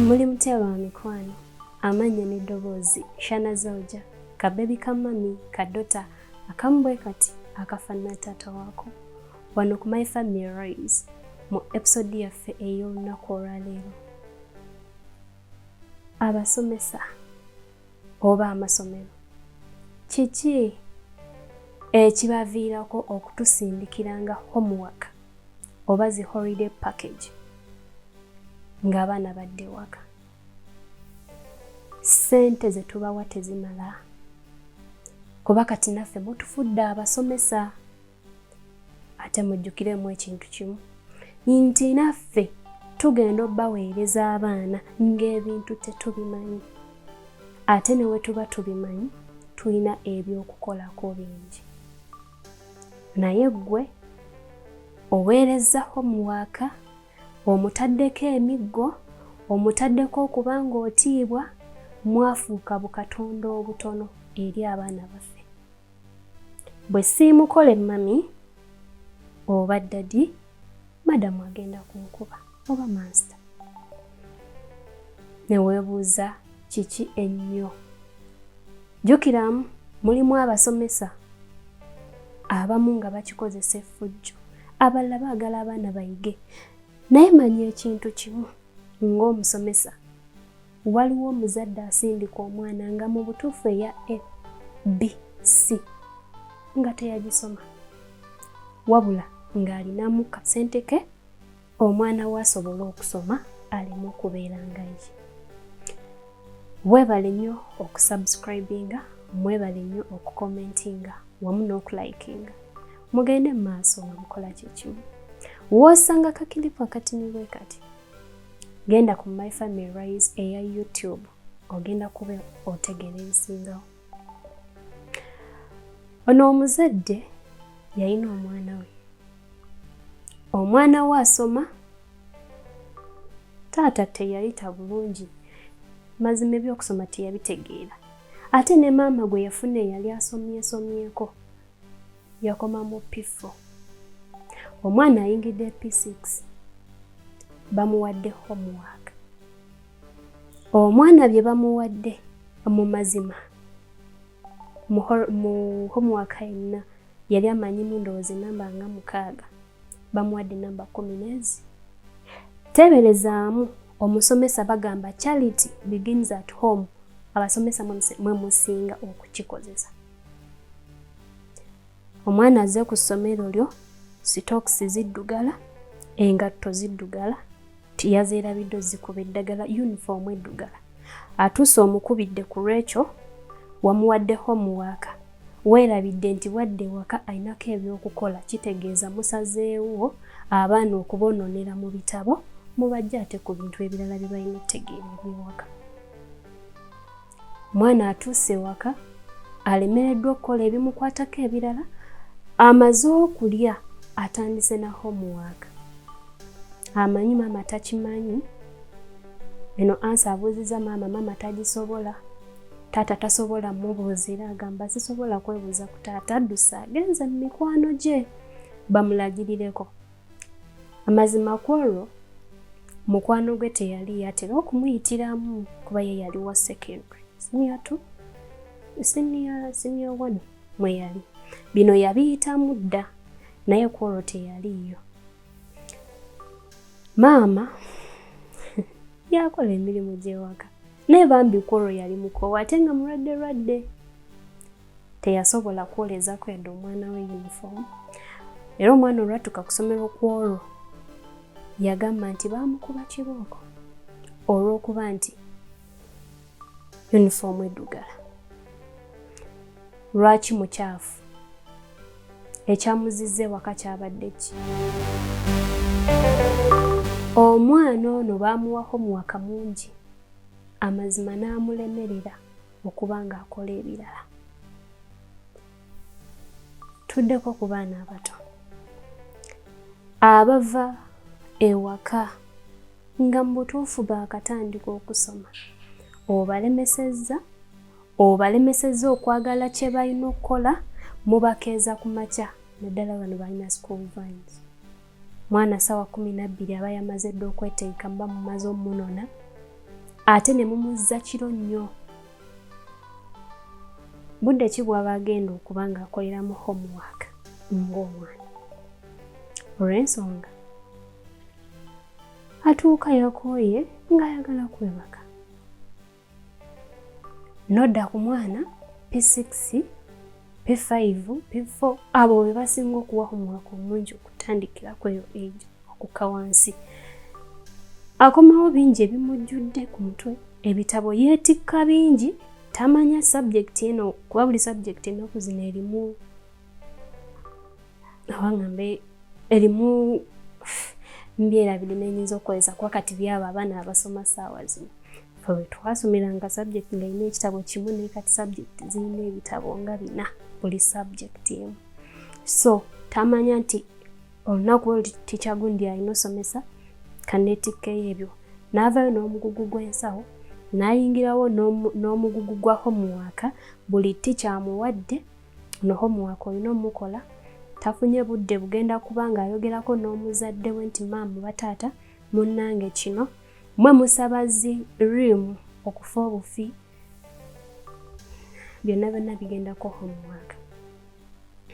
muli mutya ba mikwano amannya n'eddoboozi shana zauja kabebi ka mami kadota akamu bwe kati akafaanana taata waako wano ku my family rise mu episode yaffe ey'olunaku olwaleero abasomesa oba amasomero kiki ekibaviirako okutusindikiranga homework oba zi holiday package ng'abaana badde ewaka ssente ze tubawa tezimala kuba kati naffe mutufudde abasomesa ate mujjukiremu ekintu kimu nti naffe tugenda obaweereza abaana ng'ebintu tetubimanyi ate ne we tuba tubimanyi tulina ebyokukolako bingi naye ggwe oweerezza homuwaaka omutaddeko emiggo omutaddeko okuba ng'otiibwa mwafuuka bukatonda obutono eri abaana baffe bwe siimukole mami oba ddadi madamu agenda kunkuba oba mansita ne weebuuza kiki ennyo jjukiramu mulimu abasomesa abamu nga bakikozesa effujjo abalala baagala abaana bayige naye manya ekintu kimu ng'omusomesa Waliwo omuzadde asindika omwana nga mu butuufu eya A, B, C nga teyagisoma wabula ng'alinamu kasente ke omwana we asobole okusoma aleme okubeera nga ye. Weebale nnyo okusubscribinga, mwebale nnyo okukomentinga wamu n'okulikinga. Mugende mu maaso nga mukola kye kimu. W'osanga kakilipu akatini bwe kati genda ku my family rise eya youtube ogenda kuba otegeera ebisingawo ono omuzadde yalina omwana we omwana we asoma taata teyayita bulungi mazima ebyokusoma teyabitegeera ate ne maama gwe yafuna eyali asomyesomyeko yakoma mu P4. Omwana ayingidde P6 bamuwadde homework. Omwana bye bamuwadde mu mazima mu homework yenna yali amanyimu ndowooza enamba nga mukaaga bamuwadde namba kumi n'ezi. Teeberezaamu omusomesa bagamba charity begins at home abasomesa mwe musinga okukikozesa. omwana aze ku ssomero lyo sitokisi ziddugala engatto ziddugala tiyazeerabidde ozikuba eddagala yunifoomu eddugala atuuse omukubidde ku lwekyo wamuwadde homuwaaka weerabidde nti bwadde ewaka alinako ebyokukola kitegeeza musazeewo abaana okubonoonera mu bitabo mubajja ate ku bintu ebirala bye balina ettegeera ebyewaka Mwana atuuse ewaka alemereddwa okukola ebimukwatako ebirala amaze okulya atandise na homework amanyi maama takimanyi eno ansa abuuziza maama maama tagisobola taata tasobola mubuuzira agamba sisobola kwebuuza ku taata addusa agenze mu mikwano gye bamulagirireko amazima ku olwo mukwano gwe teyali yatera okumuyitiramu kuba ye yali wa secondary senior two senior senior one mwe yali bino yabiyitamu dda naye ku olwo teyaliiyo maama yakola emirimu gy'ewaka naye bambi ku olwo yali mukoowa ate nga mulwadde lwadde teyasobola kwolezako yadde omwana we uniform era omwana olwatuka kusomero kwolwo yagamba nti bamukuba kibooko olwokuba nti uniform edugala lwaki mukyafu ekyamuziza ewaka kyabadde ki omwana ono baamuwako muwaka mungi amazima n'amulemerera okuba ng'akola ebirala tuddeko ku baana abato abava ewaka nga mu butuufu baakatandika okusoma obalemesezza obalemesezza okwagala kye balina okukola mubakeeza ku makya naddala bano balina school vines mwana sawa kumi nabbiri aba yamaze dda okwetegeka muba mumaze omunona ate ne mumuzza kiro nnyo budde ki bwaba agenda okuba nga akoleramu homework ng'omwana olw'ensonga atuuka yakooye ng'ayagala kwebaka nodda ku mwana p6 p5 p4 abo be basinga okuwa omwaka omungi okutandikira kweyo ejo okukka wansi akomawo bingi ebimujjudde ku mutwe ebitabo yeetikka bingi tamanya sabjekiti eno kuba buli sabjekiti ennaku zino erimu awaŋŋambe erimu mbyera biri nenyinza okukozesa kuba kati byabo abaana abasoma saawa zino fe wetwasomera nga subject nga erina ekitabo kimu naye kati subject zirina ebitabo nga bina buli subject emu so tamanya nti olunaku olu tikya gundi alina osomesa kanetikkeyo ebyo naavayo n'omugugu gw'ensawo nayingirawo n'omugugu gwa homuwaaka buli tikyamuwadde no homework olina omukola tafunye budde bugenda kuba ng'ayogerako n'omuzadde we nti maamu bataata munnange kino mwe musaba zi rimu okufa obufi byonna byonna bigendako homework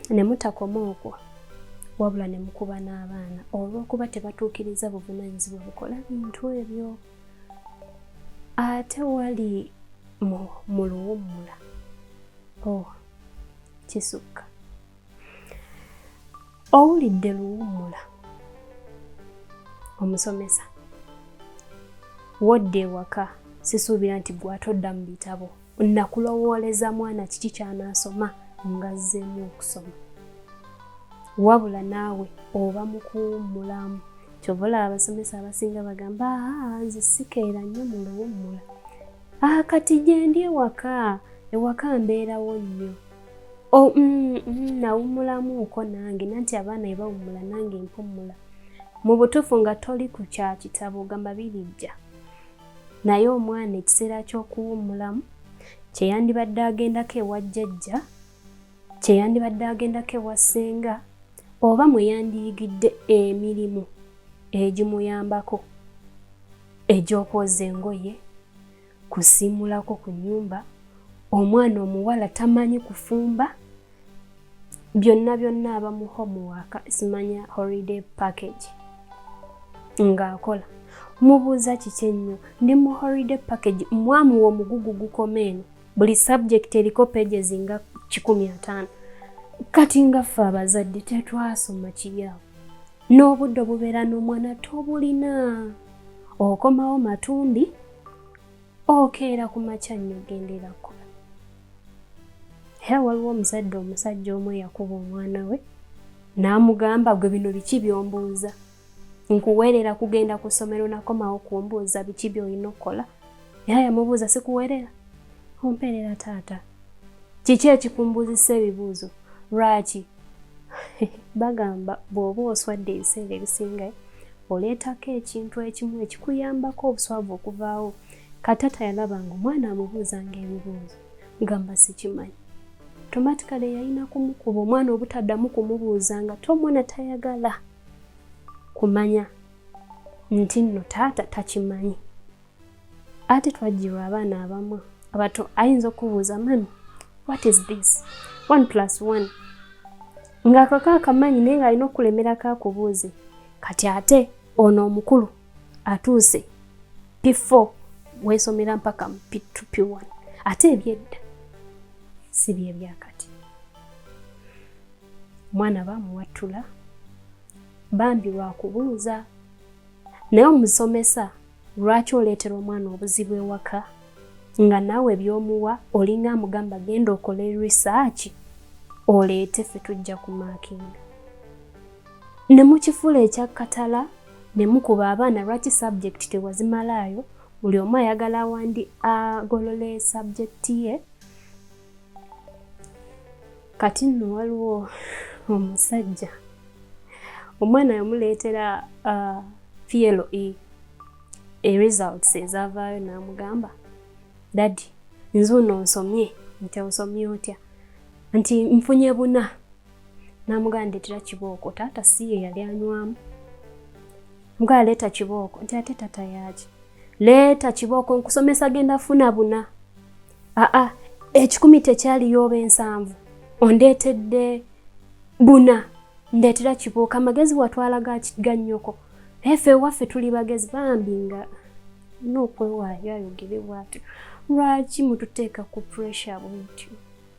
ne mutakoma okwo wabula ne mukuba n'abaana olw'okuba tebatuukiriza buvunaanyizibwa bukola bintu ebyo ate wali mu mu luwummula oh kisukka owulidde luwummula omusomesa wodda ewaka sisuubira nti gwatodda mu bitabo nakulowooleza mwana kiki kyanaasoma nga azzeemu okusoma wabula naawe oba mukuwummulamu kyova olaba abasomesa abasinga bagamba aa nze sikeera nnyo mu luwummula aa kati gyendi ewaka ewaka mbeerawo nnyo oh, mm, mm, nawummulamuuko nange nanti abaana ebawummula nange mpummula mu butuufu nga toli ku kya kitabo ogamba birijja naye omwana ekiseera ky'okuwummulamu kye yandibadde agendako ewa jjajja kye yandibadde agendako ewa ssenga oba mwe yandiyigidde emirimu egimuyambako egy'okwoza engoye kusiimulako ku nnyumba omwana omuwala tamanyi kufumba byonna byonna aba mu homework simanya holiday package ng'akola mubuuza kiki ennyo ndi mu holiday package mwamu w'omugugu gukoma eno buli subject eriko pages nga kikumi ataano kati nga ffe abazadde tetwasoma kiryawo n'obudde obubeera n'omwana tobulina okomawo matumbi okeera ku makya nnyo ogendera kkuba era waliwo omuzadde omusajja omu eyakuba omwana we n'amugamba gwe bino biki byombuuza nkuweerera kugenda ku ssomero nakomawo kumbuuza biki byolina okukola era yamubuuza sikuweerera ompeerera taata kiki ekikumbuuzisa ebibuuzo lwaki bagamba bw'oba oswadde ebiseera ebisinga oleetako ekintu ekimu ekikuyambako obuswavu okuvaawo katata yalaba nga omwana amubuuza nga ebibuuzo gamba sikimanyi tomatikale yalina kumukuba omwana obutaddamu kumubuuza nga te omwana tayagala kumanya nti nno taata takimanyi ate twajjirwa abaana abamu abato ayinza okubuuza mami what is this one plus one ng'akako akamanyi naye ng'alina okulemerako akubuuze kati ate ono omukulu atuuse p4 weesomera mpaka mu p2 p1 ate ebyedda si byebyakati omwana bamuwattula bambi lwakubuuza naye omusomesa Lwaki oleetera omwana obuzibu ewaka nga naawe by'omuwa olinga amugamba genda okole risaaki oleete ffe tujja ku maakinga ne mukifuula ekyakkatala ne mukuba abaana lwaki sabjekiti tewazimalaayo buli omu ayagala wandi agolole sabjekiti ye kati nno waliwo omusajja omwana yamuleetera uh, PLE e results ezavaayo n'amugamba dadi nze ono nsomye nti osomye otya nti nfunye buna n'amugamba ndeetera kibooko taata si ye yali anywamu mugala leeta kibooko nti ate tata yaaki leeta kibooko nkusomesa genda funa buna aa ekikumi tekyaliyo oba ensanvu ondeetedde buna ndeetera kibuuka amagezi watwala ga nnyoko naye fe ewaffe tuli bagezi bambi nga nookwewaayo ayogere bwatyo lwaki mututeeka ku pressure bwetyo